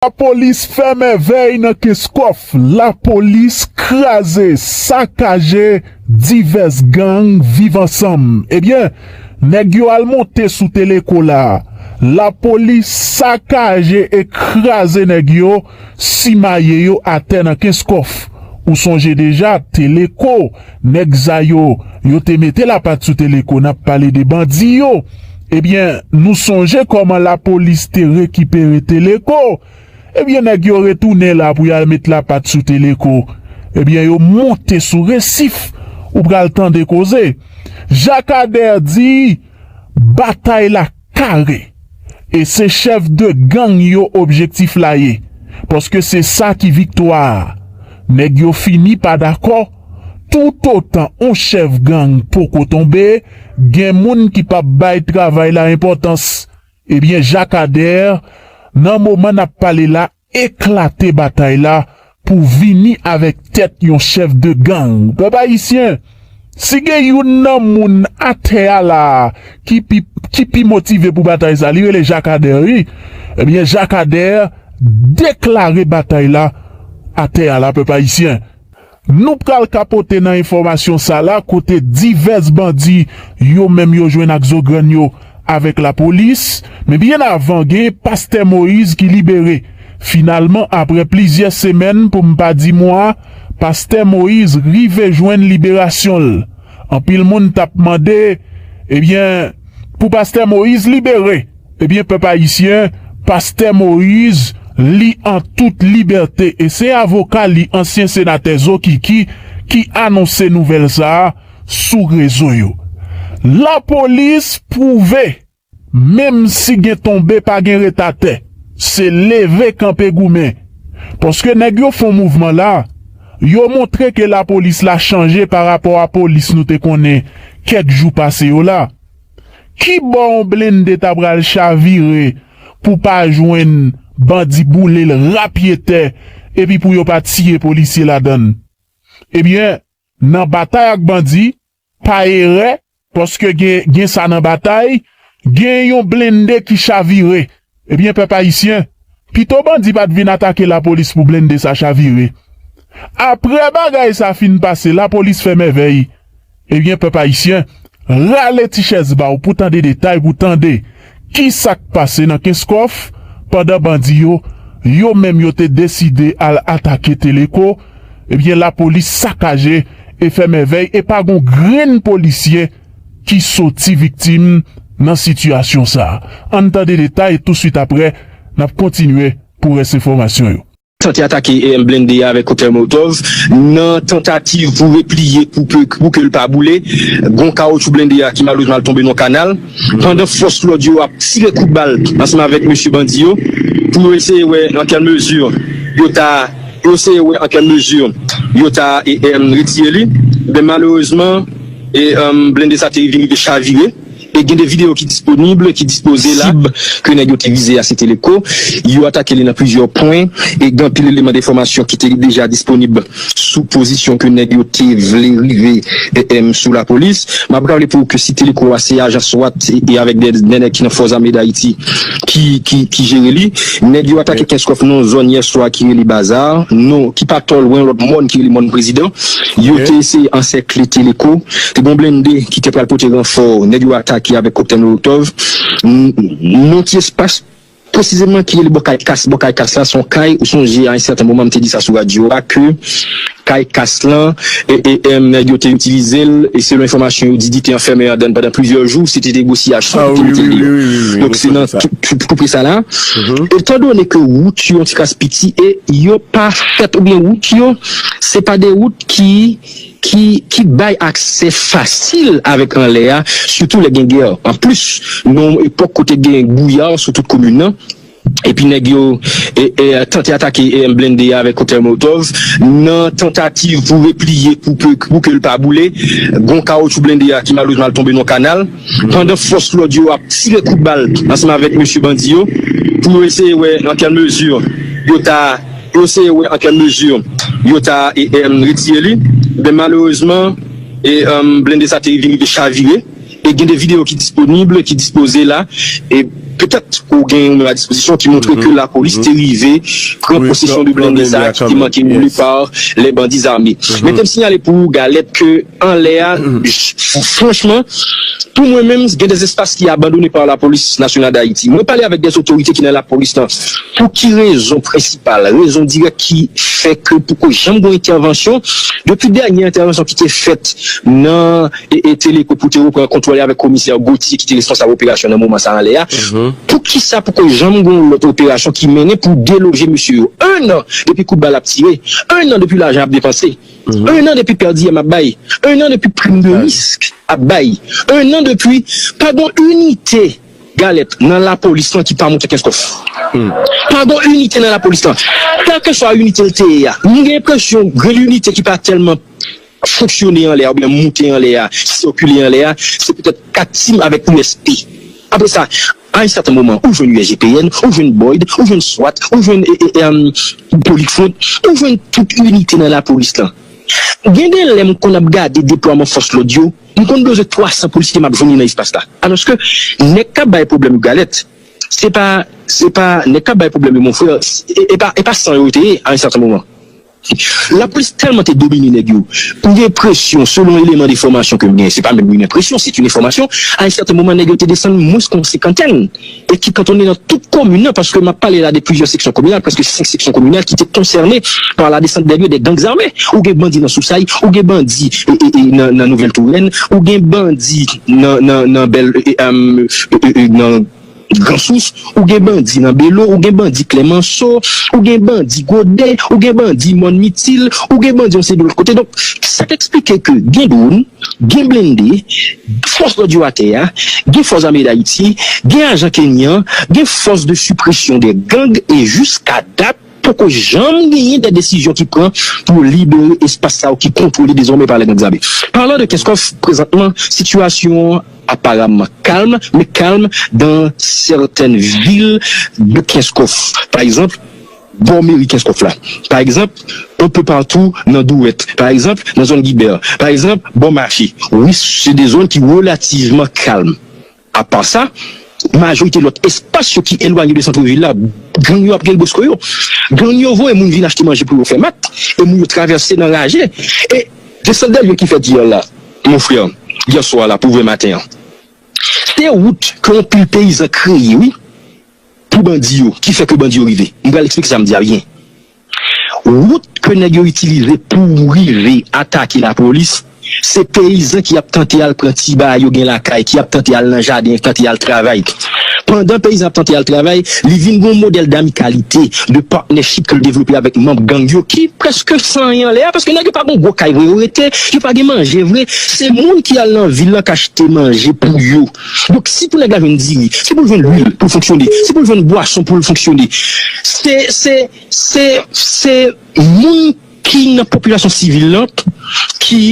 Lapolis fè mèvèy nan Kenskòf, lapolis kraze, sakaje divès gang Viv ansanm. Ebyen, nèg yo al monte sou Teleco la, lapolis sakaje e kraze nèg yo, simaye yo atè nan Kenskòf. Ou sonje deja, Teleco. Nèg sa yo, yo te mete lapat sou Teleco nap pale de bandi yo. Ebyen nou sonje kòman lapolis te rekipere Teleco. Ebyen nèg yo retounen la pou yal met lapat sou Teleco. Ebyen yo monte sou resif. Ou pral tande koze. Jakadè di batay la. Kare. E se chèf de gang yo objektif la ye. Paske se sa ki viktwa a. Nèg yo fini pa dakò, toutotan on chèf gang poko tonbe, gen moun ki pap bay travay la enpòtans. Ebyen Jakadè, nan moman n ap pale la, eklate batay la pou vini avèk tèt yon chèf de gang pèp ayisyen si gen youn nan moun atè a la a ki pi ki pi motive pou batay sa li rele jakadè wi ebyen jakadè deklare batay la atè a la pèp ayisyen. Nou pral kapote nan enfòmasyon sa la kote divès bandi yo menm yo jwenn ak zo grann yo avèk lapolis. Men byen avan gen pastè Moïse ki libere. Finalman aprè plizyè semèn pou m pa di mwa, pastè Moïse rive jwenn liberasyon l. Anpil moun tap mande, ebyen pou pastè Moïse libere? Ebyen pèp ayisyen, pastè Moïse li an tout libète e se avoka li ansyen senatè Zokiki ki anonse nouvèl sa a sou rezo yo. Lapolis pwouve menm si gen tonbe pa gen ret atè, se leve kanpe goumen. Paske nèg yo fon mouvman la, yo montre ke lapolis la chanje pa rapò a polis nou te konnen kèk jou pase yo la. Kibò yon blende ta pral chavire pou pa jwenn bandi boule l ra pye tè epi pou yo pa tiye polisye ladan l? Ebyen, nan batay ak bandi, pa erè, paske gen sa nan batay, gen yon blende ki chavire Ebyen pèp ayisyen, pito bandi pat vin atake lapolis pou blende sa chavire. Aprè bagay sa fin pase lapolis fè mèvèy. Ebyen pèp ayisyen, rale ti chèz ba w pou tande detay pou tande kisa k pase nan Kenskòf pandan bandi yo, yo menm yo te deside al atake Teleko, ebyen lapolis sakaje e fè mèvèy e pa gon grenn polisye ki soti viktim nan sitiyasyon sa. Ann tande detay touswit aprè n ap kontinye pou rès enfòmasyon yo. Tante atake EM blende a avèk koktèl molotov nan tantativ pou repliye pou ke l pa boule. Gon kawotchou blende a ki malerezman al tonbe nan yon kanal pandan fòs lòd yo ap tire kout bal ansanm avèk mesye bandi yo pou yo eseye wè nan kèl mezi yo ta eseye wè nan kèl mezi yo ta retire li. Men malerezman. Blende sa te rive rive chavire e gen 2 videyo ki disponib ki dispoze la. Sib ke nèg yo te vize a se te Leko. Yo atake li nan plizyè pwen e gen anpil eleman de enfòmasyon ki te deja disponib sou pozisyon ke nèg yo te vle rive sou lapolis. M ap raple pou ou ke site Leko a se ajan swat e avèk 2 nèg ki nan Fò Zame Dayiti ki jere li. Nèg yo atake Kenskòf nan yon zòn yèswa ki rele Baza, non ki pa twò lwen yon lòt mòn ki rele Mòn Prezidan. Yo te eseye ansèkle Teleko. Te gen yon blende ki te pral pote ranfò. Nèg yo atake avèk Koptè Molotov. Yon ti espas presizeman ki rele Bò Kay Kas. Bò Kay Kas la se yon kay. Ou sonje a yon sèten moman m te di sa sou radyo a ke Kay Kas lan nèg yo te itilize l e selon enfòmasyon yo di di te anfèmen andan l pandan plizyè jou. Se te negosyasyon pou te mete l deyò. Donk se nan tou pre sa la. Etandone ke wout yo yon ti kras piti e yo pa fèt oubyen wout yo. Se pa de wout ki ki ki bay aksè fasil avèk anlè a, sitou lè gen gè. Anplis, nan yon epòk kote gen bwouya sou tout komin nan, epi nèg yo tante atake blende a avèk koktèl molotov, nan tantativ pou repliye pou ke pou ke l pa boule, gon kawotchou blende a ki malerezman al tonbe nan yon kanal, pandan fòs lòd yo ap tire kout bal ansanm avèk mesye bandi yo, pou yo eseye wè nan kèl mezi yo ta. Yo eseye wè an kèl mezi yo ta retire li, men malerezman blende sa te vin rive chavire e gen de videyo ki disponib, ki dispoze la e petèt ou gen ou menm a dispozisyon ki montre ke lapolis te rive pran posesyon de blende sa ki te manke boule pa lè bandi zame. Mete m sinyale pou ou Galette ke. anlè a franchman pou mwen menm gen des espaces ki abandonne par la police nationale d'Haïti mwen pale avèk des autorités ki nan la police lan pou ki rezon prensipal rezon dirèk ki fè ke poko janm gon entèvansyon depi dènye entèvansyon ki te fèt nan Teleco pou te repran kontwòle avèk komisè Gauthier ki te responsab operasyon nan moman sa anlè a pou ki sa poko janm gon lòt operasyon ki mennen pou deloje mesye yo 1 an depi kout bal ap tire 1 an depi lajan ap depanse. 1 an depi per diem ap bay, 1 an depi prim de risk ap bay, 1 an depi pa gon inite galèt nan lapolis lan ki pa moute kenskof. Pa gon inite nan lapolis lan. Kèlkeswa inite l te ye a, m gen enpresyon grenn inite ki pa tèlman fonksyone anlè a oubyen moute anlè a, sikile anlè a, se petèt 4 Tim avèk USP. Apre sa. A yon sèten moman ou jwenn USGPN, ou jwenn BOID, ou jwenn swat, ou jwenn Politfront, ou jwenn tout inite nan lapolis lan. Gen de lè m konn ap gade deplwaman fòs lòd yo, m konn bezwen 300 polisye m ap jwenn li nan espas la. Alòske nèg k ap bay pwoblèm yo galèt, se pa nèg k ap bay pwoblèm yo monfrè, e pa san yo yo te ye a yon sèten moman. Lapolis tèlman te domine nèg yo, m gen enpresyon, selon eleman de fòmasyon ke m gen, se pa menm yn enpresyon, c'est une information, a un certain moment nèg yo te desann mwens ke yon senkantèn, e ki kantonnen nan tout komin nan, paske m ap pale la de plizyè seksyon kominal, prèske 5 seksyon kominal ki te konsène par la descente des lieux des gangs armés. Ou gen bandi nan Sousay, ou gen bandi nan Nouvèl Torèn, ou gen bandi nan nan nan nan. Gransous, ou gen bandi nan Belo, ou gen bandi Klèmanso, ou gen bandi Gode, ou gen bandi Mòn Mitil, ou gen bandi yon seri de lòt kote. Donk, sa te eksplike ke gen dwonn, gen blende, fòs lòd yo atè a, gen fòs ame Dayiti, gen ajan Kenyan, gen fòs de sipresyon de gang e jiska dat, Poko janm genyen de desizyon ki pran pou yo libere espas sa yo ki kontwole dezòmè pa lè gang zame. Palan de Kenskòf, prezantman sitiyasyon an aparamman kalm, men kalm dan sètèn vil de Kenskòf, pa egzanp, bò meri Kenskòf la, pa egzanp, enpe patou nan Dwèt, pa egzanp, nan zòn Gibè, pa egzanp, bò mache. Wi, se de zòn ki relativman kalm. Apa sa, majorite lòt espas yo ki elwanye de santre vil la, gang yo ap gen bosco yo. Gang yo voye moun vin achte manje pou yo fè mak e moun yo travèse nan raje e. Gen sant Bèlvil ki fèt yè la, mon frè, yè swa la pou vre maten an. Se wout ke yon pil peyizan kreye wi pou bandi yo ki fè ke bandi yo rive. M pral eksplike sa m di a byen. Wout ke nèg yo itilize pou rive atake lapolis, se peyizan ki ap tante al pran ti bagay yo gen lakay, ki ap tante al nan jaden, tante al travay. Pandan peyizan ap tante al travay, li vin gen yon modèl d'amikalite, de partnership ke l devlope avèk manb gang yo ki prèske san anyen anlè a, paske nèg yo pa gen yon gwo kay vre yo rete, yo pa gen manje vre, se moun ki al nan vil lan k achte manje pou yo. Donk si pou nèg la jwenn diri, si pou l jwenn lwil pou l fonksyone, si pou l jwenn bwason pou l fonksyone, se, se, se, se moun ki nan popilasyon sivil lan ki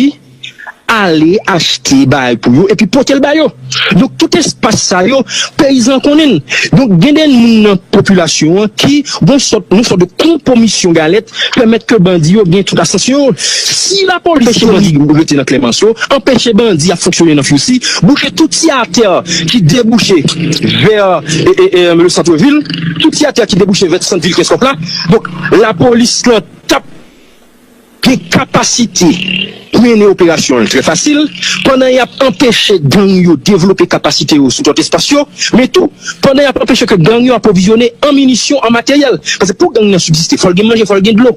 ale achte bagay pou yo epi pote l ba yo. Donk tout espas sa yo, peyizan an konnen l. Donk gen de moun nan popilasyon an ki gon sòt, yon sòt de konpomisyon galèt. Pèmèt ke bandi yo gen tout asans yo. Si lapolis anpeche bandi rete nan Klèmans yo, anpeche bandi ap fonksyone nan Fousi, bouke tout ti atè ki debouche vè le centre ville, tout ti atè ki debouche vè sant vil Kenskòf la, donk lapolis lan tap gen kapasite. Pou mennen operasyon l trè fasil, pandan y ap anpeche gang yo devlope kapasite yo sou tout espas yo, men tou, pandan y ap anpeche ke gang yo apwovizyone an minisyon, an materyèl. Paske pou gang nan sibsiste, fò l gen manje, fò l gen dlo,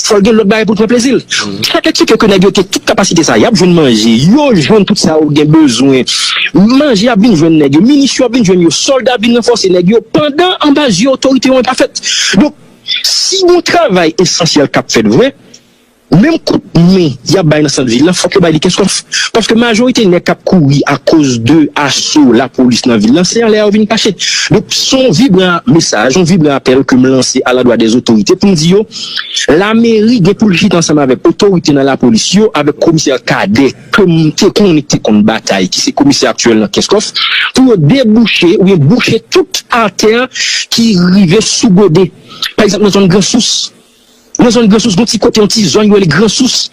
fò l gen lòt bagay pou l pran plezi l. Sa k eksplike ke nèg yo gen tout kapasite sa a, y ap jwenn manje, yo jwenn tout sa yo gen bezwen, manje ap vin jwenn nèg yo, minisyon ap vin jwenn yo, sòlda ap vin ranfòse nèg yo, pandan anba zye otorite yo an pa fèt. Donk, si gon travay esansyèl k ap fèt vre, Menm kout men y ap bay nan sant vil la, fòk yo bay li Kenskòf. Paske majorite nèg k ap kouri akoz de aso lapolis nan vil la, se anlè a yo vin kache. Donk, s on vibran mesaj, s on vibran apèl ke m lanse alandwa dè zotorite pou m di yo, lameri gen pou l chita ansanm avèk otorite nan lapolis yo, avèk komisè Kadè ke m te konnen ki te konn batay, ki se komisè aktyèl nan Kenskòf, pou yo debouche oubyen bouche tout atè ki rive sou gode. Pa egzanp, nan zòn Gran Sous. Nan zòn Gran Sous gon ti kote yon ti zòn yo rele Gran Sous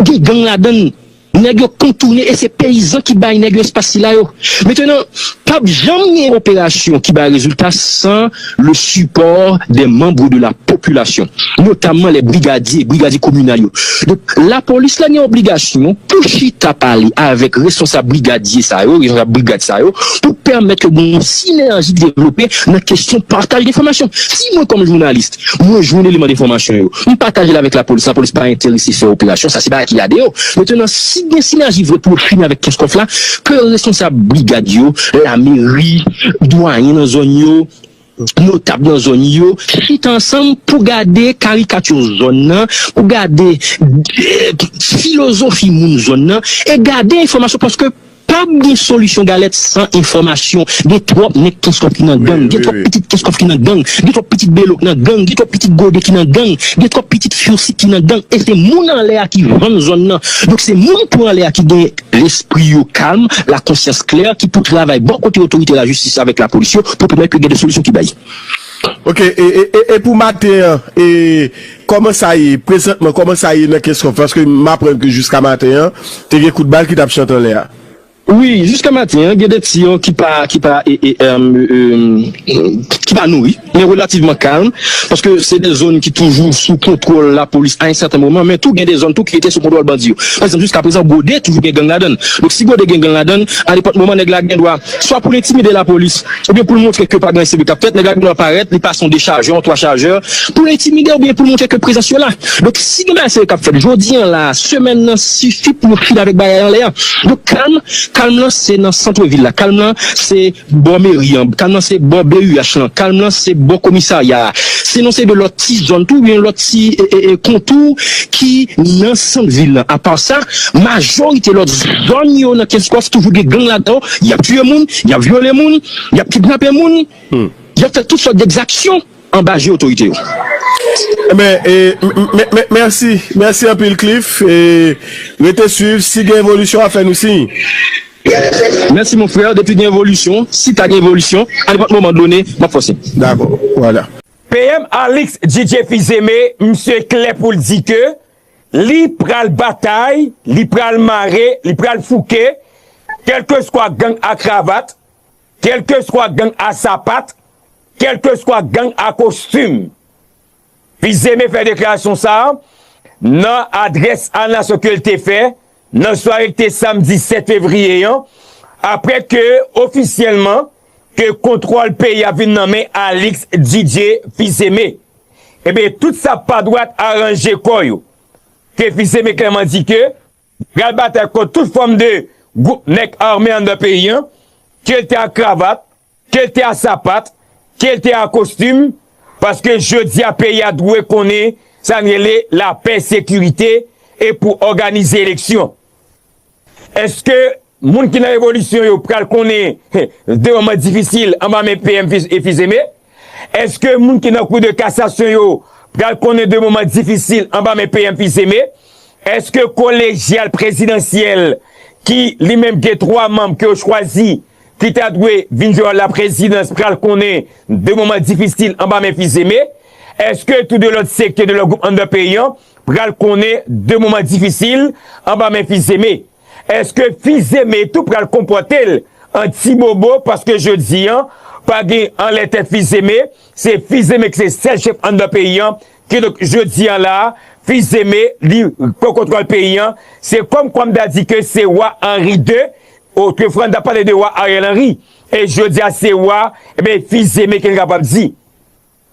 gen gang ladann nèg yo kontoune e se peyizan ki bay nèg yo espas sila yo. Metenan pap janm gen operasyon ki bay rezilta san le sipò dè manbre de la popilasyon notamman lè brigadye, brigadye kominal yo. Donk lapolis la gen obligasyon pou chita pale avèk responsab brigadye sa yo, responsab brigad sa yo pou pèmèt ke gen yon sinèji ki devlope nan kesyon pataj enfòmasyon. Si mwen kòm jounalis Mwen jwenn eleman de fòmasyon yo. M pataje l avèk lapolis. Lapolis pa enterese fè operasyon sa. Se bagay ki gade yo. Metenan, si gen sinèji vre pou yo fini avèk Kenskòf la, ke responsab brigad yo, lameri, dwayen nan zòn yo, notab nan zòn yo, chita ansanm pou gade karikati zòn nan, pou gade filozofi moun zòn nan, e gade enfòmasyon paske. Pap gen solisyon galèt san enfòmasyon, gen twòp nèg kenskòf ki nan gang, gen twòp pitit kenskòf ki nan gang, gen twòp pitit belo k nan gang, gen twòp pitit gode ki nan gang, gen twòp pitit fursi ki nan gang e se moun anlè a ki vann zòn nan donk se moun tou anlè a ki gen lespri yo kalm, lakonsyans klè ki pou travay bò kote otorite lajistis avèk lapolis yo pou pèmèt ke gen de solisyon ki bay. Ok e pou maten an e Kòman sa ye prezantman? Kòman sa ye nan Kenscoff? Paske m aprann ke jiska maten an, te gen kout bal ki t ap chante anlè a. Wi, jiska maten an, gen de tiyon ki pa, ki pa e, e, erm, erm, ki pa nouri, men relativman kalm, paske se de zòn ki toujou sou kontwòl lapolis a yon sèten moman, men tou gen de zòn tou ki rete sou kontwòl bandi yo. Pa egzanp, jiska prezan, Gode toujou gen gang ladan l. Donk, si Gode gen gang ladan l, a nenpòt moman nèg la gen dwa, swa pou l entimide lapolis, oubyen pou l montre ke pa gen anyen serye k ap fèt, nèg la gen dwa parèt, li pase yon dechajè, yon twa chajè, pou l entimide yo oubyen pou l montre ke prezans yo la. Donk, si gen bagay serye k ap fèt jodi an la a, semèn nan, sifi pou yo fini avèk bagay anlè an. Donk, kalm, kalm lan se nan santre vil la, kalm lan se bò meri an, kalm lan se bò BUH lan, kalm lan se bò komisarya a, se nan yon seri de lòt ti zòn tou, oubyen lòt ti kontou ki nan sant vil lan. Apa sa, majorite lòt zòn yo nan Kenskòf toujou gen gang ladan yo. Y ap tiye moun, y ap vyole moun, y ap kidnape moun, y ap fè tout sòt degzaksyon anba je otorite yo. Enben, mèsi, mèsi anpil Cliff. Rete swiv, si gen evolisyon a fè nou siy. Mèsi mon frère, depi gen evolisyon, si ta gen evolisyon, anepòt moman done, m ap fè w siy. Dakò, wala. PM Alix Djidje Fils-Aimé, misye klè pou l di ke Li pral batay, li pral mare, li pral fouke, kèlkeswa gang a kravat, kèlkeswa gang a sapat, kèlkeswa gang a kostim. Fizeme fè deklarasyon sa a nan adrès a nasyon ke l te fè Nan sware ki te samdi 7 fevriye an, apre ke ofisyèlman ke kontwòl peyi a vin nan men Alix Didier Fils-Aimé, enben tout sa pa dwat aranje kò yo, ke Fils-Aimé klèman di ke li pral batay kont tout fòm de gwoup nèg ame anndan peyi an, ke li te ak kravat, Kel te a sapat, kel te a kostim, paske jodi a peyi a dwe konnen sa n rele lapè, sekirite e pou òganize eleksyon. Eske moun ki nan revolisyon yo pral konnen de moman difisil anba men PM e Fils-Aimé? Eske moun ki nan kou de kasasyon yo pral konnen de moman difisil anba men PM Fils-Aimé? Eske kolejyal prezidansyèl ki li menm gen 3 manm ke yo chwazi ki ta dwe vin jwe wòl laprezidans pral konnen de moman difisil anba men Fils-Aimé? Èske tou de lòt sektè, de lòt gwoup anndan peyi an pral konnen de moman difisil anba men Fils-Aimé? Èske Fils-Aimé tou pral konpòte l an ti bobo paske jodi an pa gen anlè tèt Fils-Aimé, se Fils-Aimé ki se sèl chèf anndan peyi an, kidonk jodi an la a Fils-Aimé li pran kontwòl peyi an, se kòmkwa m ta di ke se Wa Henri ii Oh ke franda pale de wa ariel henry e jodia se wa ebyen e fizeme kel kapab di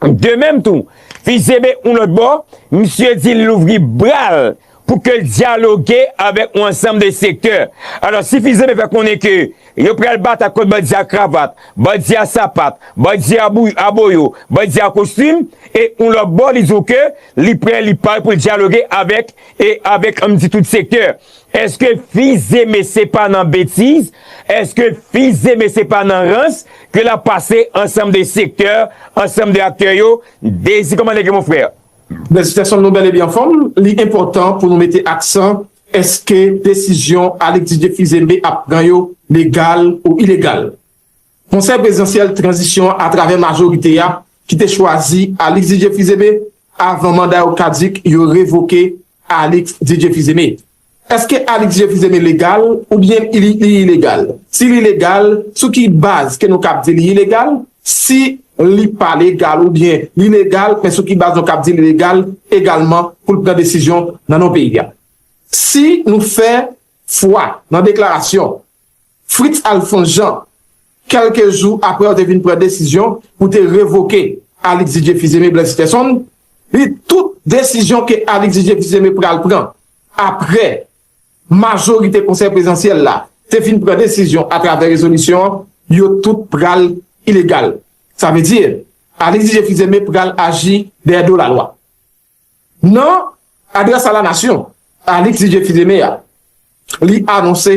de menm tou fizeme yon lot bò misye di li louvri bral pou kel dialoge avek yon ansanm de sektè alò si fizeme fè konnen ke yo pral batay kont bandi a kravat bandi a sapat bandi a boyo bandi a kostim e yon lot bò li di w ke li prè li pare poul dialoge avek e avek anm di tout sektè Eske fils Aimé se pa nan betiz, eske fils Aimé se pa nan rans ke lap pase ansanm de sektè, ansanm de aktè yo, Désir kòman nèg yo mon frère? Felisitasyon nou bel e byen anfom, li enpotan pou nou mete aksan eske desizyon Alix Didier Fils Aimé ap pran yo legal ou ilegal. Konsèy Prezidansyèl Tranzisyon an atravè majorite a ki te chwazi Alix Didier Fils-Aimé avan manda yo kadik yo revoke Alix Didier Fils-Aimé. Eske Alix Didier Fils-Aimé legal oubyen li ilegal? Si li legal, sou ki baz ke nou kab di li ilegal? Si li pa legal oubyen li legal men sou ki baz nou kab di li legal egalman pou l pran desizyon nan non peyi a? Si nou fè fwa nan deklarasyon Fritz Alphonse Jean, kèlke jou aprè yo te vin pran desizyon pou te revoke Alix Didier Fils-Aimé Blaise-Sitherson, li tout desizyon ke Alix Didier Fils-Aimé pral pran aprè majorite konsèy prezidansyèl la te fin pran desizyon atravè rezolisyon an, yo tout pral ilegal. Sa vle di, Alix Didier Fils-Aimé pral aji dèyè do lalwa. Nan adrès a la nasyon, Alix Didier Fils-Aimé a, li anonse,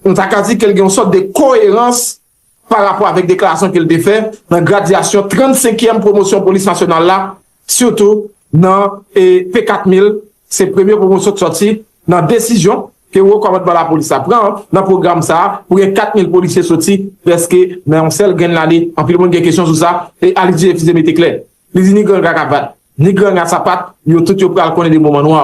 nou ta ka di ke l gen yon sòt de koyerans pa rapò avèk deklarasyon ke l te fè nan gradyasyon 35 kièm pwomosyon polis nasyonal la, sitou nan P 4000, se premye pwomosyon ki sòti nan desizyon ke wo kòmandman lapolis la pran nan pwogram sa a pou gen 4000 polisye sòti prèske nan yon sèl grenn lane, anpil moun gen kesyon sou sa, e Alix Didier Fils-Aimé te klè. Li di ni granga kavat, ni granga sapat, yo tout yo pral konnen de moman nwa.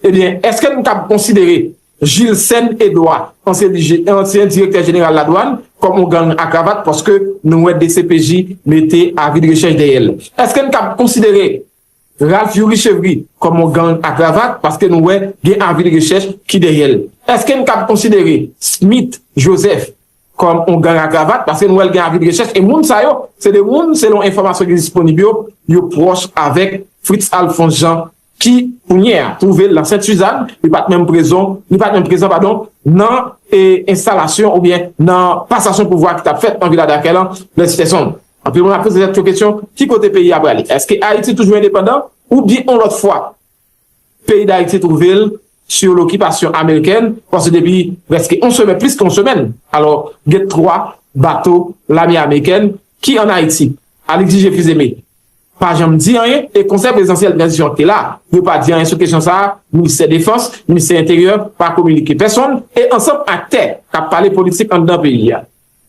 Ebyen, eske nou kab konsidere Jilsèn Edwa, ansyen DG, ansyen direktè jeneral ladwann, kòm yon gang a kravat paske nou wè dcpj mete avi de rechèch dèyè l? Eske n kab konsidere Ralph Youri Chevry kòm yon gang a kravat paske nou wè gen avi de rechèch ki dèyè l? Eske n kab konsidere Smith Joseph kòm yon gang a gravat, paske nou wè l gen avi de rechèch, e moun sa yo, se de moun, selon enfòmasyon ki disponib yo, yo pwòch avèk Fritz Alphonse Jean, ki, kounye a, twouve l nan Sent Suzanne, li pa t menm prezon, li pa t menm prezan, padon, nan enstalasyon oubyen nan pasasyon pouvwa ki t ap fèt nan Vila Dakè lan, lè si tè sonb. Anpil moun ap poze tèt yo kesyon, ki kote peyi a prale? Èske Ayiti toujou endepandan, oubyen yon lòt fwa? Peyi Dayiti twouve l sou lokipasyon amerikèn paske depi prèske on semèn, plis ke on semèn, alò gen 3 bato lame amerikèn ki an Ayiti. Alix J. Fils-Aimé pa janm di anyen e Konsèy Prezidansyèl Tranzisyon an ki te la yo pa di anyen sou kesyon sa a, Ministè Defans, Ministè Enteryè pa kominike pèsonn e ansanm aktè k ap pale politik anndan peyi a.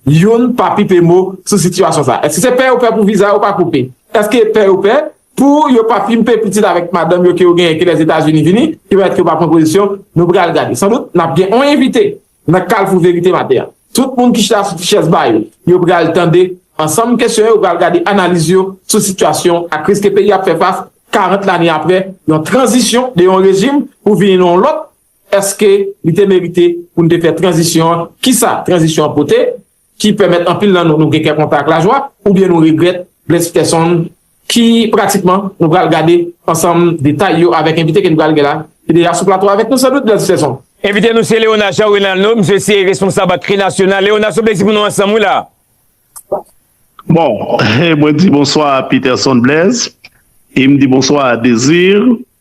Youn pa pite mo sou sitiyasyon sa. Èske se pè yo pè pou viza yo pa koupe? Èske pè yo pè pou yo pa pimpe pitit avèk madanm yo ke yo genyen ke Lèzetazini vini ki pèmèt ke yo pa pran pozisyon? Nou pral gade. San dout, n ap gen on envite nan Kalfou Verite maten an. Tout moun ki chita sou ti chèz ba yo, yo pral tande ansanm kesyon yo, yo pral gade analiz yo sou sitiyasyon ak kriz ke peyi a ap fè fas 40 lane apre yon tranzisyon de yon rejim pou vini nan yon lòt Èske li te merite pou n te fè tranzisyon an? Ki sa tranzisyon an pote ki pèmèt anpil nan nou nou gen kè kontan ak lajwa oubyen nou regrèt? Blaise Peterson ki pratikman nou pral gade ansanm detay yo avèk envite ke nou pral gen la ki deja sou plato avèk nou san dout Blaise Peterson. Envite nou se Léonard Jean Renalno, misye se responsab ak Kri Nasyonal. Léonard, se yon plezi pou nou ansanm wi la a. Bon, mwen di bonswa a Peterson Blaise e m di bonswa a Desir.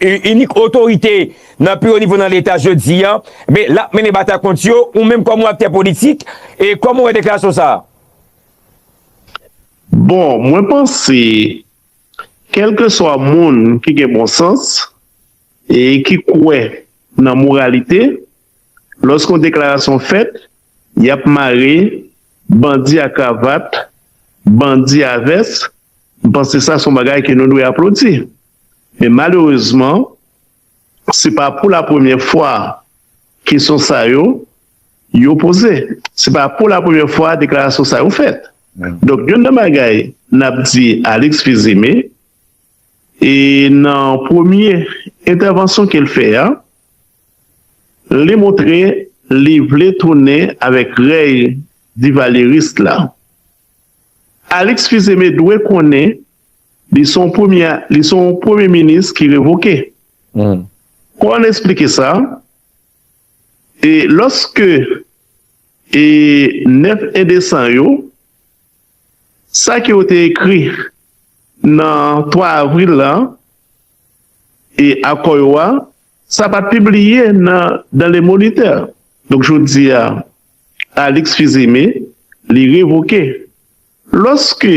inik otorite nan pi wo nivo nan leta jodi a, men lap mennen batay kont yo, ou menm kòm yon aktè politik, e kòman ou wè deklarasyon sa a? Bon, mwen panse, kèlkeswa moun ki gen bon sans, e ki kwè nan moralite, lòske yon deklarasyon fèt, yap mare bandi a kravat, bandi a vès, mpanse sa son bagay ke nou dwe aplodi. Men malerezman, se pa pou la premyè fwa kesyon sa yo, yo poze. Se pa pou la premyè fwa deklarasyon sa yo fèt. Donk, youn nan bagay n ap di Alix Fils-Aimé, e nan premye entèvansyon ke l fè a, li montre li vle tounen avèk rèy divalyeris la. Alix Fils-Aimé dwe konnen Li son premye li son premye minis ki revoke. Kò an esplike sa, e lòske e 9 indesan yo, sa ke yo te ekri nan 3 avril la, e akò yo a, sa pa t pibliye nan dans le moniteur. Donk jodi a, Alix Fils-Aimé li revoke. Lòske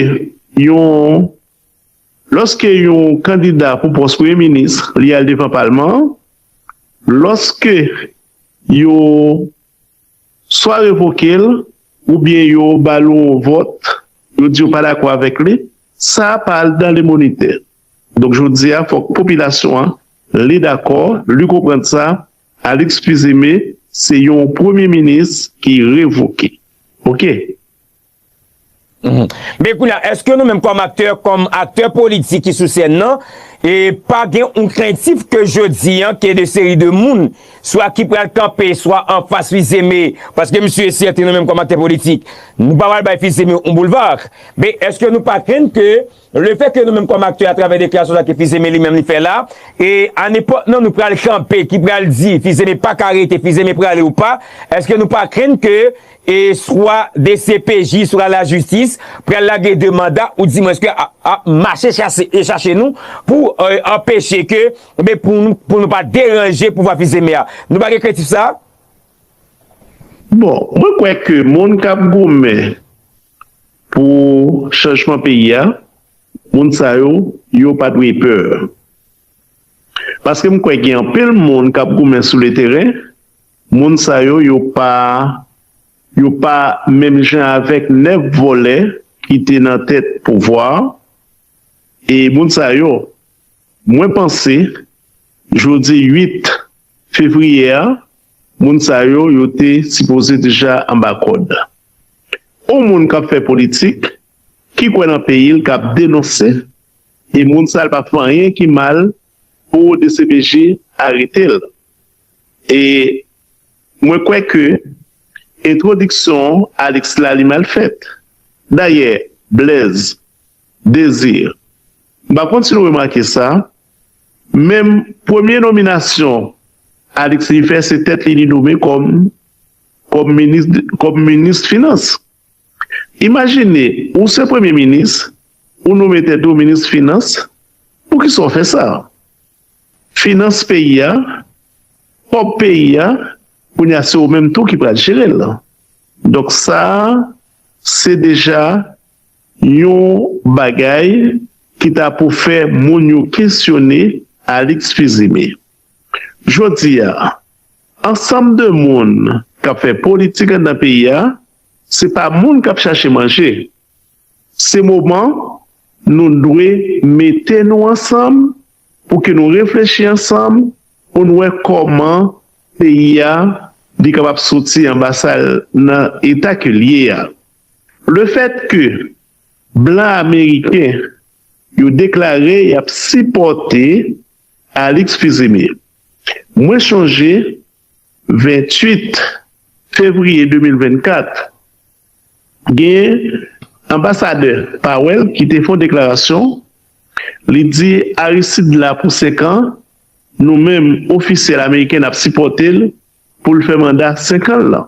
yon Lòske yon kandida pou pòs Premye Minis li al devan Palman an, lòske yo swa revoke l oubyen yo ba l yon vòt, yo di yo pa dakò avèk li, sa a pa al dan limonite. Donk jodi a fòk popilasyon an li dakò, li konprann sa, Alix Fils-Aimé se yon Premye Minis ki revoke. Ok. Men kounye a, eske nou menm kòm aktè, kòm aktè politik ki sou sèn nan, e pa gen yon krentif ke jodi an, ke de seri de moun, swa ki pral kanpe, swa an fas Fils-Aimé, paske msye e sèten nou menm kòm aktè politik, nou pa pral bay Fils-Aimé yon boulevard, men eske nou pa krenn ke. Le fè ke nou menm kòm aktè atravè deklarasyon sa ke Fizeme li menm li fè la, e a nenpòt non nou pral kanpe ki pral di Fizeme pa ka rete, Fizeme prale ou pa, èske nou pa krenn ke e swa dcpj swa lajistis pral lage de manda ou di mwens ke ap mache chase e chache nou pou anpeche ke oubyen pou nou pa deranje pouvwa Fizeme a? Nou pa gen krentif sa a? Bon, mwen kwè ke moun k ap goumen Pou chanjman peyi a, moun sa yo, yo pa dwe pè. Paske m kwè gen anpil moun k ap goumen sou leteren, moun sa yo, yo pa yo pa menm jan avèk 9 vòlè ki te nan tèt pouvwa a e moun sa yo, mwen panse jodi 8 fevriye a, Moun sa yo, yo te sipoze deja anba kòd. On moun kap fè politik, ki kwè nan peyi l, kap denonse, e moun sa l pa fè anyen ki mal pou dcpj arete l. E mwen kwè ke entwodiksyon Alix la li mal fèt. Dayè, Blaise, Désir, m pa konn si nou remake sa, Menm premye nominasyon Alix li fè se tèt li li nome kòm kòm minis kòm minis finans. Imajine ou se premye minis ou nome tèt ou minis finans poukisa w fè sa? Finans peyi a, kòb peyi a kounye a se ou menm tou ki pral jere l. Donk sa se deja Yon bagay ki ta pou fè moun yo kesyone Alix Fils-Aimé. Jodi a, ansanm de moun k ap fè politik anndan peyi a, se pa moun k ap chache manje. Se moman nou dwe mete nou ansanm pou ke nou reflechi ansanm pou n wè kòman peyi a li kapab soti anba sa l nan eta ke l ye a. Lefèt ke blan ameriken yo deklare y ap sipòte Alix Fils-Aimé, mwen chonje 28 fevriye 2024, gen anbasadè Powell ki te fè yon deklarasyon, li di Aristide la pou 5 an, nou menm ofisyèl ameriken n ap sipòte l pou l fè manda 5 an l lan.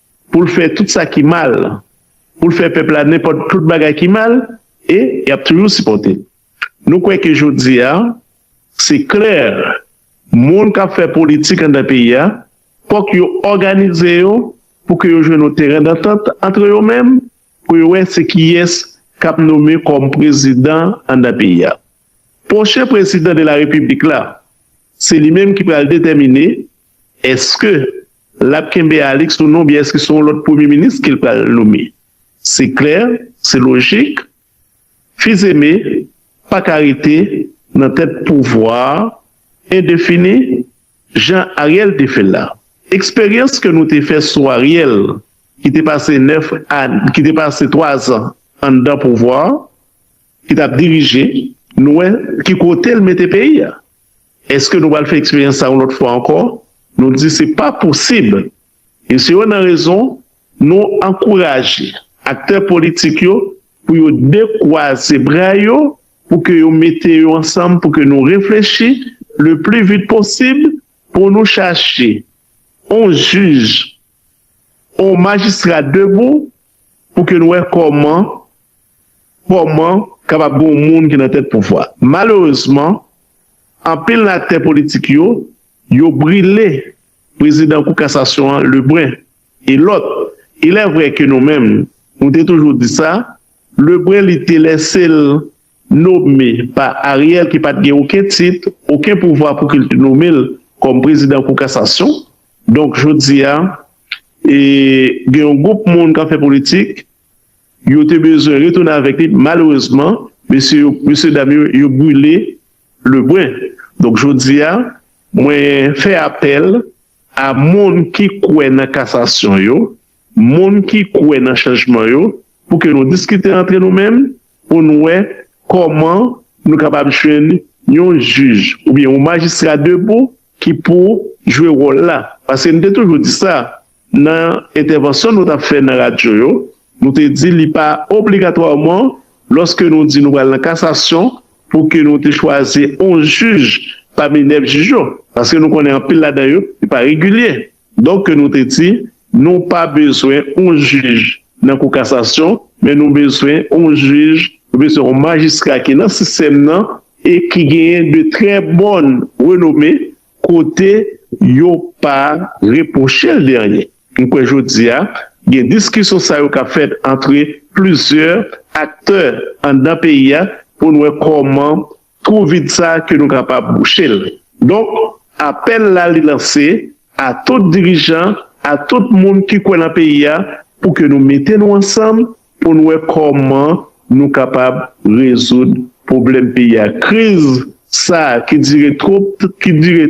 pou l fè tout sa ki mal, pou l fè pèp la nenpòt tout bagay ki mal e y ap toujou sipòte l. Nou kwè ke jodi a, se klè, moun k ap fè politik anndan peyi a, fòk yo òganize yo pou ke yo jwenn yon teren dantant antre yo menm pou yo wè se kiyès k ap nome kòm prezidan anndan peyi a. Pwochen prezidan de la repiblik la, se li menm ki pral detèmine Eske lap kenbe Alix ou non oubyen eske se yon lòt premye minis ke l pral nome? Se klè, se lojik, Fils-Aimé pa ka rete nan tèt pouvwa a endefini jan Ariel te fè l la. Eksperyans ke nou te fè sou Ariel ki te pase 9 an, ki te pase 3 zan anndan pouvwa a, ki tap dirije, nou wè ki kote l mete peyi a. Èske nou pral fè eksperyans sa yon lòt fwa ankò? Nou di se pa posib. E se yon nan rezon nou ankouraje aktè politik yo pou yo dekwaze bra yo, pou ke yo mete yo ansanm, pou ke nou reflechi le pli vit posib pou nou chache yon jij, yon majistra debou Pou ke n wè kòman, kòman kapab gen yon moun ki nan tèt pouvwa. Malerezman, anpil nan aktè politik yo, yo brile prezidan kou kasasyon an Lebrun e lòt. Ilèvrè ke nou menm, nou te toujou di sa, Lebrun li te lèse l nome pa Ariel ki pat gen oken tit, oken pouvwa pou ki l t nome l kòm prezidan kou kasasyon. Donk jodi a e gen yon gwoup moun k ap fè politik, yo te bezwen retounen avèk li, malerezman mesye yo, mesye dam yo, yo brile Lebren. Donk jodi a mwen fè apèl a moun ki kwè nan kasasyon yo, Moun ki kwè nan chanjman yo, pou ke nou diskite antre nou menm pou nou wè kòman nou kapab jwenn yon jij oubyen yon majistra debou ki pou jwe wòl la. Paske nou te toujou di sa nan entèvansyon nou t ap fè nan radyo yo, nou te di li pa obligatwaman lòske nou di nou pral nan kasasyon pou ke nou te chwazi yon jij pami 9 jij yo. Paske nou konnen anpil ladan yo, yo pa regilye. Donk ke nou te di, nou pa bezwen yon jij nan kou kasasyon, men nou bezwen yon jij, nou bezwen yon majistra ki nan sistèm nan e ki genyen de trè bòn renome kote yo pa repwoche l de anyen. M kwè jodi a, gen diskisyon sa yo k ap fèt antre plizyè aktè anndan peyi a pou n wè kòman Twou vid sa ke nou kapab bouche l. Donk, apèl la li lanse a tout dirijan, a tout moun ki kwè nan peyi a pou ke nou mete nou ansanm pou n wè kòman nou kapab rezoud pwoblèm peyi a. Kriz sa ki dire twop, ki dire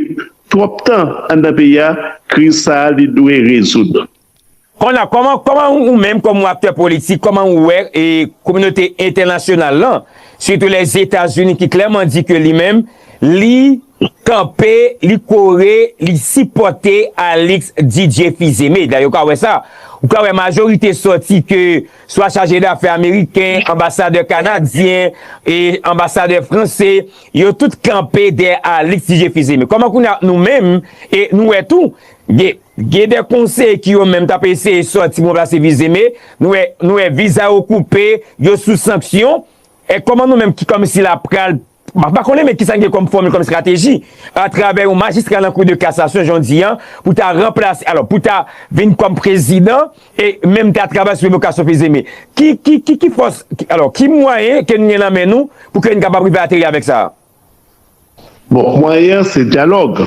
twòp tan anndan peyi a, kriz sa li dwe rezoud. Konnya kòman kòman ou menm kòm ou aktè politik kòman ou wè e kominote entènasyonal lan sitou lèzetazini ki klèman di ke li menm li kanpe li kore li sipòte Alix Didier Fils-Aimé dayè ou ka wè sa ou ka wè majorite sòti ke swa chaje dafè ameriken anbasadè kanadyen e anbasadè franse yo tout kanpe dèyè Alix Didier Fils-Aimé kòman konnya nou menm e nou wè tou gen. Gen de konseye ki yo menm tap eseye sòti bon plase vize me nou wè viza yo koupe, yo sou sanksyon, e kòman nou menm ki kòm si la pral, mwen pa konnen men kisa n gen kòm fòmil kòm estrateji a travè yon majistra nan kou de kasasyon jan w di an pou ta ranplase alò pou ta vin kòm prezidan e menm ta travay sou revokasyon vize me ki ki ki ki fòs alò ki mwayen ke n gen nan men nou pou ke n kapab rive ateri avèk sa a? Bon mwayen an se dyalòg.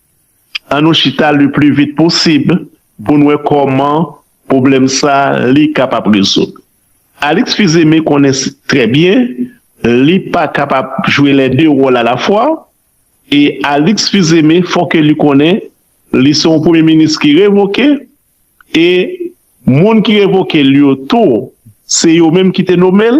An nou chita le plus vite possible pou n wè kòman pwoblèm sa li kapab rezoud. Alix Fils-Aimé konnen trè byen li pa kapab jwe lè de wòl a la fwa e Alix Fils-Aimé fò ke li konnen li se yon premye minis ki revoke e moun ki revoke l yo tou se yo menm ki te nome l.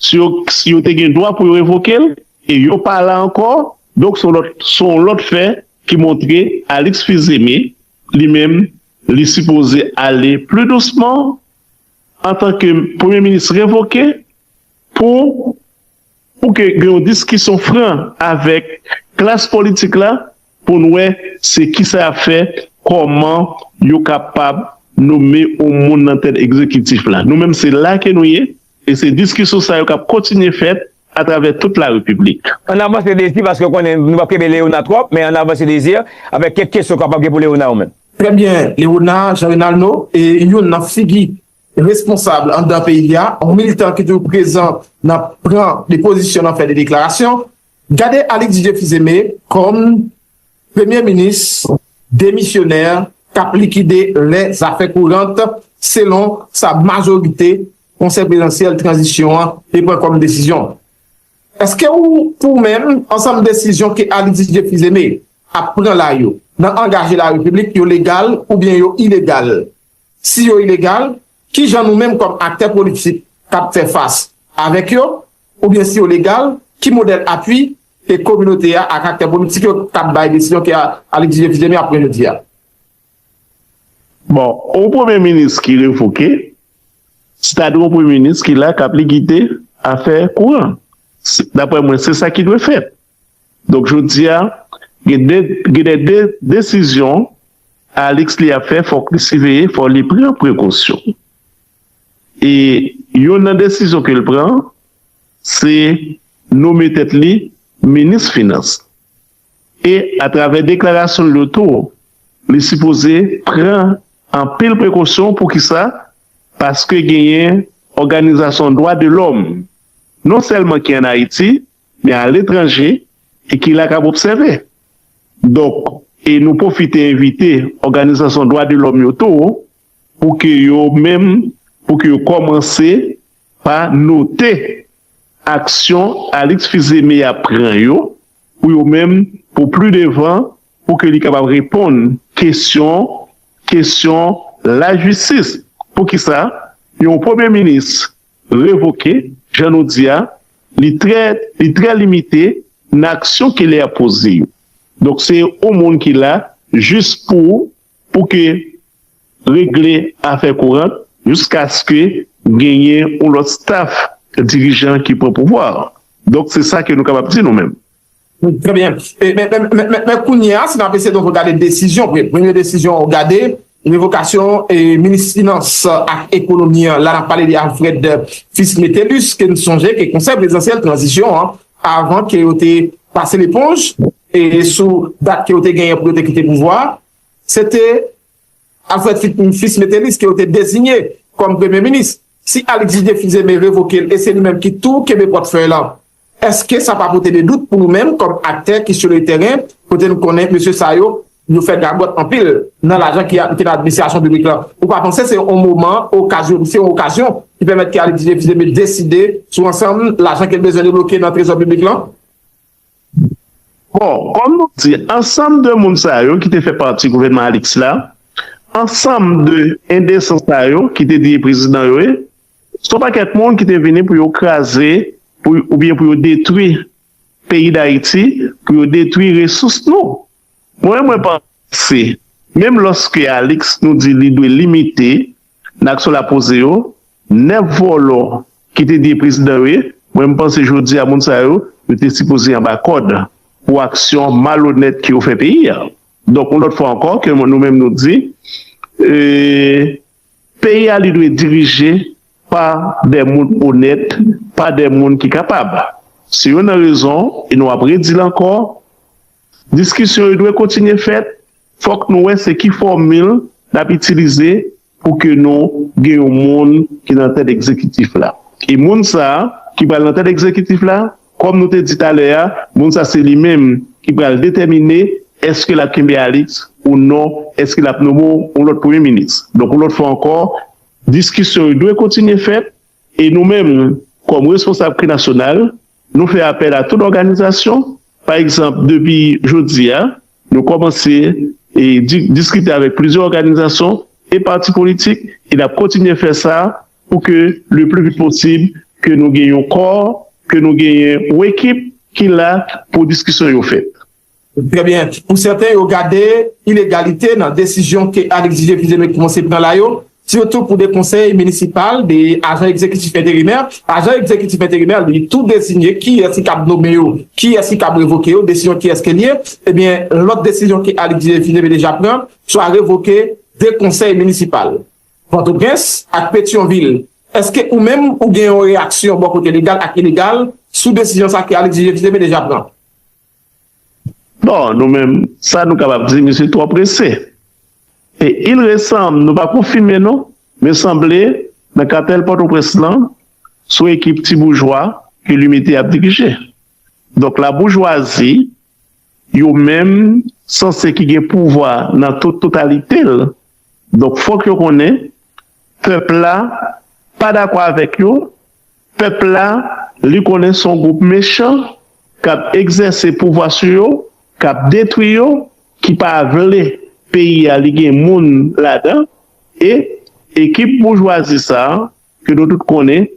Si yo si yo te gen dwa pou yo revoke l e yo pa la ankò, donk son lòt son yon lòt fè ki montre Alix Fils Aimé li menm li sipoze ale pli dousman antan ke premye minis revoke pou pou ke gen yon diskisyon fran avèk klas politik la Pou n wè se kisa y ap fè, kòman yo kapab nome yon moun nan tèt egzekitif la. Nou menm se la ke nou ye, e se diskisyon sa yo k ap kontinye fèt atravè tout la Repiblik. Ann avanse Désir paske ou konnen nou p ap kenbe Léonard twòp, men ann avanse Désir avèk kèk kesyon kapab gen pou Léonard ou menm. Trè byen Léonard Jean Renaldo, e youn nan figi responsab anndan peyi a, yon militan ki toujou prezan nan pran de pozisyon, nan fè de deklarasyon, gade Alix Didier Fils-Aimé kòm premye minis demisyonè k ap likide lè zafè kourant selon sa majorite konsèy prezansyèl tranzisyon an te pran kòm desizyon. Eske ou pou menm ansanm desizyon ke Alix Didier Fils-Aimé ap pran la yo nan angaje la repiblik yo legal oubyen yo ilegal? Si yo ilegal, ki jan nou menm kòm aktè politik k ap fè fas avèk yo? Oubyen si yo legal, ki modèl apui ke kominote a ak aktè politik yo k ap bay desizyon ke Alix Didier Fils-Aimé ap pran jodi a? Bon, yon premye minis ki revoke, se ta dwe yon premye minis ki la k ap likide afè kouran. Daprè mwen, se sa ki dwe fèt. Donk jodi a, gen de gen de de desizyon Alix li ap fè fòk li siveye, fò li pran prekosyon. E youn nan desizyon ke l pran, se nome tèt li minis finans. E atravè deklarasyon l yo tou, li sipoze pran anpil prekosyon pou ki sa, paske genyen òganizasyon dwa de lòm non sèlman ki an Ayiti, Men aletranje e ki la k ap obsève. Donk, e nou pwofite envite òganizasyon dwa de lòm yo tou pou ke yo menm pou ke yo kòmanse pa note aksyon Alix Fils-Aimé ap pran yo pou yo menm pou pli devan pou ke li kapab reponn kesyon kesyon lajistis. Poukisa yon premye minis revoke, jan nou di a, li trè, li trè limite nan aksyon ke li ap poze yo. Donk se yon moun ki la jis pou, pou ke regle afè kourant jiskaske genyen yon lòt staf dirijan ki pran pouvwa a. Donk se sa ke nou kapab di nou menm. Trè byen. Men kounye a, si nan pese donk gade desizyon, premye desizyon ou gade, revokasyon minis finans ak ekonomi an, la nan pale de Alfred Fils Métellus, ke n sonje ke konsèy prezidansyèl tranzisyon an, avan ke yo te pase leponj, e sou dat ke yo te genyen pou yo te kite pouvwa, se te Alfred Fils Métellus ke yo te dezinye kòm premye minis. Si Alix Didier Fils-Aimé revoke l, e se li menm ki tou kenbe pòtfèy lan, Èske sa pa pote de dout pou nou menm kòm aktè ki sou le tèren kote nou konnen mesye sa yo, yo fè gagòt anpil nan lajan ki nan administrasyon piblik lan? Ou pa panse se yon moman okazyon, se yon okazyon ki pèmèt ke Alexis Thibert deside sou ansanm lajan ke l bezwen debloke nan trezò piblik lan? Bon, kòm nou di, ansanm de moun sa yo ki te fè pati gouvènman Alix la, ansanm de endesans sa yo ki te di e prezidan yo ye, Se yon pakèt moun ki te vini pou yo kraze oubyen pou yo detwi peyi Dayiti, pou yo detwi resous nou. Mwen menm mwen panse, menm lòske Alix nou di li dwe limite nan aksyon l ap poze yo, 9 vòlò ki te di e prezidan yo ye, mwen menm panse jodi a moun sa yo, yo te sipoze anba kòd pou aksyon malonèt ke yo fè peyi a. Donk yon lòt fwa ankò ke nou menm nou di e. Peyi a li dwe dirije pa dè moun onèt, pa dè moun ki kapab. Se youn nan rezon, e nou ap redi l ankò, diskisyon yo dwe kontinye fèt, fòk nou wè se ki fòmil n ap itilize pou ke nou gen yon moun ki nan tèt egzekitif la. E moun sa a ki pral nan tèt egzekitif la, Kòm nou te di talè a, moun sa se li menm ki pral detèmine èske l ap kenbe Alix ou non, èske l ap nome w yon lòt premye minis. Donk yon lòt fwa ankò, diskisyon yo dwe kontinye fèt e nou menm kòm responsab kri nasyonal, nou fè apèl a tout òganizasyon, pa egzanp depi jodi a nou kòmanse diskite avèk plizyè òganizasyon e pati politik e n ap kontinye fè sa pou ke le pli vit posib ke nou gen yon kò, ke nou gen yon ekip ki la pou diskisyon yo fèt. Trè byen. Pou sèten yo gade ilegalite nan desizyon ke Al Egzije Fils-Aimé koumanse pran la yo, sitou pou 2 konsèy minisipal, 2 ajan egzekitif enterimè, ajan egzekitif enterimè li tou dezinye kiyès ki kab nome yo, kiyès ki kab revoke yo, desizyon kiyès ke li ye, e byen lòt desizyon ke Al Egzije Fils-Aimé deja pran, swa revoke 2 konsèy minisipal. Pòtoprens ak Petyonvil. Eske ou menm ou gen yon reyaksyon bò kote legal ak ilegal sou desizyon sa ke Alexis JXDB deja pran? Bon, nou menm, sa nou kapab di, misye twò prese. E il resanb, nou pa konfime non, men sanble nan katèl Pòtoprens lan, son ekip ti boujwa ke Limite ap dirije. Donk la boujwazi, yo menm, sanse ki gen pouvwa nan tout totalite l, Donk fòk yo konnen pèp la pa dakò avèk yo, pèp la li konnen son gwoup mechan kap egzèse pouvwa sou yo, kap detwi yo, ki pa vle peyi a li gen moun ladan e ekip boujwazi sa ke nou tout konnen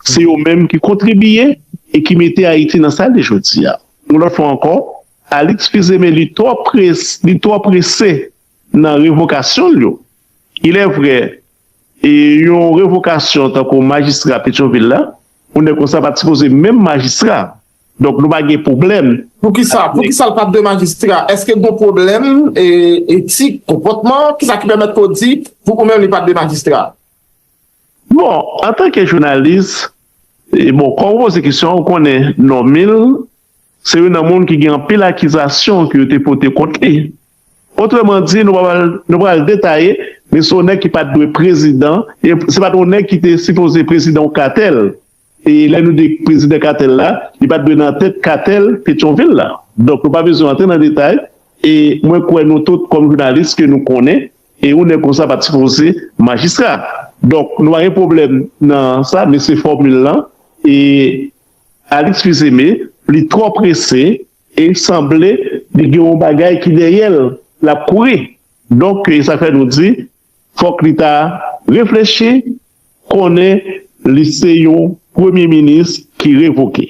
se yo menm ki kontribiye e ki mete Ayiti nan sa li jodi a. Yon lòt fwa ankò Alix Fils-Aimé li twò prese Nan revokasyon l yo. Ilèvre, yon revokasyon tankou majistra Petyonvil la, yon nèg konsa pa t sipoze menm majistra. Donk nou pa gen pwoblèm. Poukisa? Poukisa l pa t de majistra? Èske gon pwoblèm etik, konpòtman? Kisa ki pèmèt ke w di pou ou menm li pa t de majistra? Bon, antanke jounalis, bon, kòm ou poze kesyon an, ou konnen Normil se youn nan moun ki gen anpil akizasyon ke yo te pote kont li. Otreman di, nou pral detaye, Mesonè ki pat dwe prezidan, e se pat yon nèg ki te sipoze prezidan yon katèl, e lè nou di prezidan katèl la, li pat dwe nan tèt katèl Petyonvil la. Donk nou pa bezwen antre nan detay, e mwen kwè nou tout kòm jounalis ke nou konnen, e yon nèg konsa pat sipoze majistra. Donk nou pa gen pwoblèm nan sa, men se fòmil lan, e Alix Fils-Aimé li twò prese, E sanble li gen yon bagay ki dèyè l, l ap kouri. Donk, e sa fè nou di, fòk li ta reflechi, konnen li se yon premye minis ki revoke.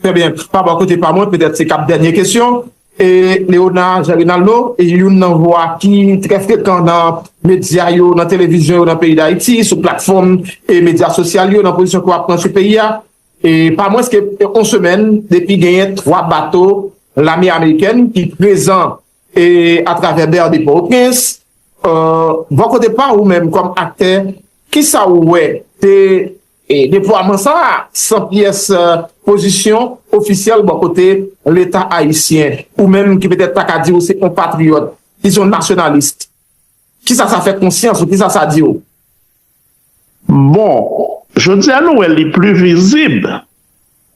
Trè byen. Pa bò kote pa mwen, petèt se kab dènye kesyon. E Léona Jean Renaldo, youn nan vwa ki trè frekan nan medya yo, nan televizyon yo nan peyi Dayiti, sou platfòm e medya sosyal yo, nan pozisyon ke w ap pran sou peyi a, E pa mwens ke yon semèn depi genyen 3 bato lame amerikèn ki prezan e atravè ber de Port-au-Prince, bò kote pa ou menm kòm aktè kisa ou wè de deplwaman sa a san pyès pozisyon ofisyèl bò kote leta ayisyen ou menm ki petèt ta ka di ou se yon patriyòt, dizon nasyonalist? Kisa sa fè konsyans ou? Kisa sa di w? Bon, jodi a nou wè li pli vizib.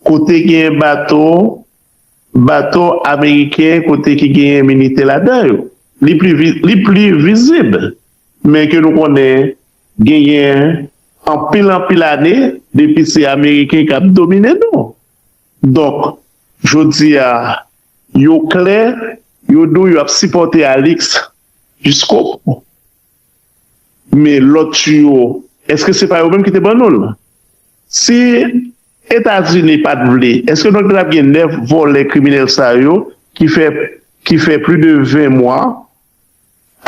Kote genyen bato, bato ameriken kote ki genyen milite ladan yo. Li pli, li pli vizib. Men ke nou konnen genyen anpil anpil ane depi se ameriken k ap domine nou. Donk, jodi a, yo klè, yo di w yo ap sipòte Alix. Piskop, Men lòt tiyo, èske se pa yo menm ki te ban nou l? Si Etazini pa t vle, èske nou te tap gen 9 vòlè kriminèl sa yo ki fè ki fè pli de 20 mwa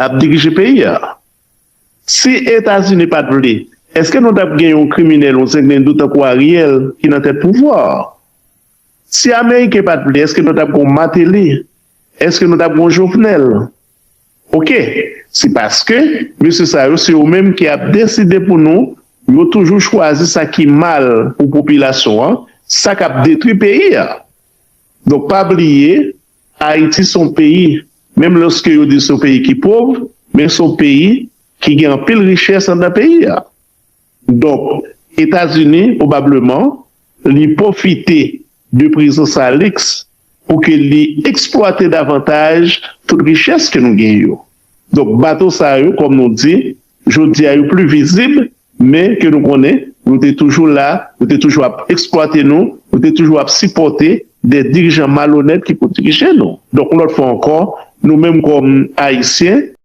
ap dirije peyi a? Si Etazini pa t vle, èske nou tap gen yon kriminèl, yon zenglendo tankou Ariel ki nan tèt pouvwa a? Si Ameriken pa t vle, èske nou tap gen yon Mateli Eske nou tap gen yon jovenel. Ok se paske mesye sa yo se yo menm ki ap deside pou nou yo toujou chwazi sa ki mal pou popilasyon an sa kap detwi peyi a donk pa bliye ayiti son peyi menm loske yo di son peyi ki pov men son peyi ki gen anpil richès andan peyi a. Donk, Etazini, pwobableman, li pwofite de prezans Alix pou ke li eksplwate davantaj tout richès ke nou gen yo. Donk, bato sa yo, kòm nou di, jodi a yo pli vizib, men ke nou konnen yo te toujou la, yo te toujou ap eksplwate nou, yo te toujou ap sipòte de dirijan malonèt ki pou dirije nou. Donk, yon lòt fwa ankò, nou menm kòm Ayisyen,